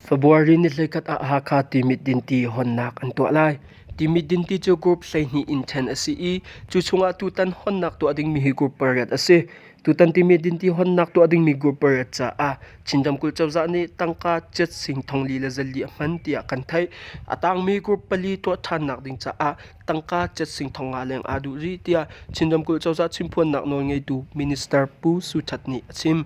Fabuari ni hleikhat ah Hakha Timit Dinti honnak an tuah lai. Timit Dinti cu group hleihnih in ṭhen a si i cu chungah tutan honnak tuah dingmi hi group pariat a si. Tutan timi dintihawnnak tuah dingmi grouper caah Chin Ramkulh Cozah nih tangka cat sing thongli le zalli a hman tiah kan theih. A tangmi group pali tuah ṭhannak ding caah tangka cat sing thong nga leng aa duh rih tiah Chin Ramkulh Cozah Chimpuannak nawlngeitu Minister Pu Su Ṭhat nih a chim.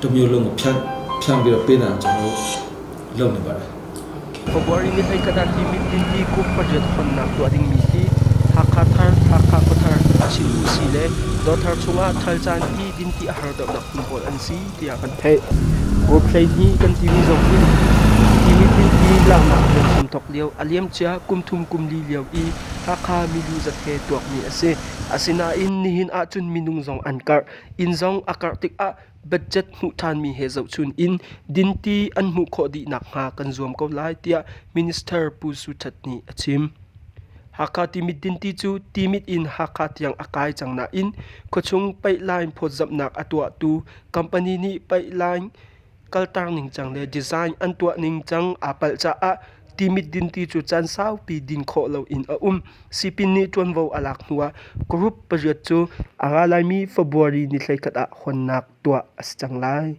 Tumio lung a phanh. Thlangbil a pen ah cang lo. Lo ne ba. February mit ei kadak i mit din hi kum pariat honnak tuah dingmi hi Hakha thar, Hakha khuathar, Chinmi si le dawthar chungah thal caan i dinti a har deuhnak hmun pawl an si tiah kan theih. Group hleihnih kan timi zong in hi mit din hi laknak rian hram thawk lio a liamcia kum thum kum li lio i Hakha milu zat he tuakmi a si. Asinain nihin ahcun minung zong an karh. Inn zong a karh tikah budget hmuh ṭhanmi he zohchun in dinti an hmuh khawh dih nakhnga kan zuam ko lai tiah Minister Pu Su Ṭhat nih a chim. Hakha Timit dinti cu Timit in Hakha tiang a kai cang nain khuachung peihlain phawtzamhnak a tuahtu company nih peihlain kalter ningcang le design an tuah ningcang aa palh caah timit dinti cu caan saupi din khawh loin a um. Sipin nih ṭuanvo a lak hnuah group pariat cu a nga laimi February ni hleikhat ah honnak tuah a si cang lai.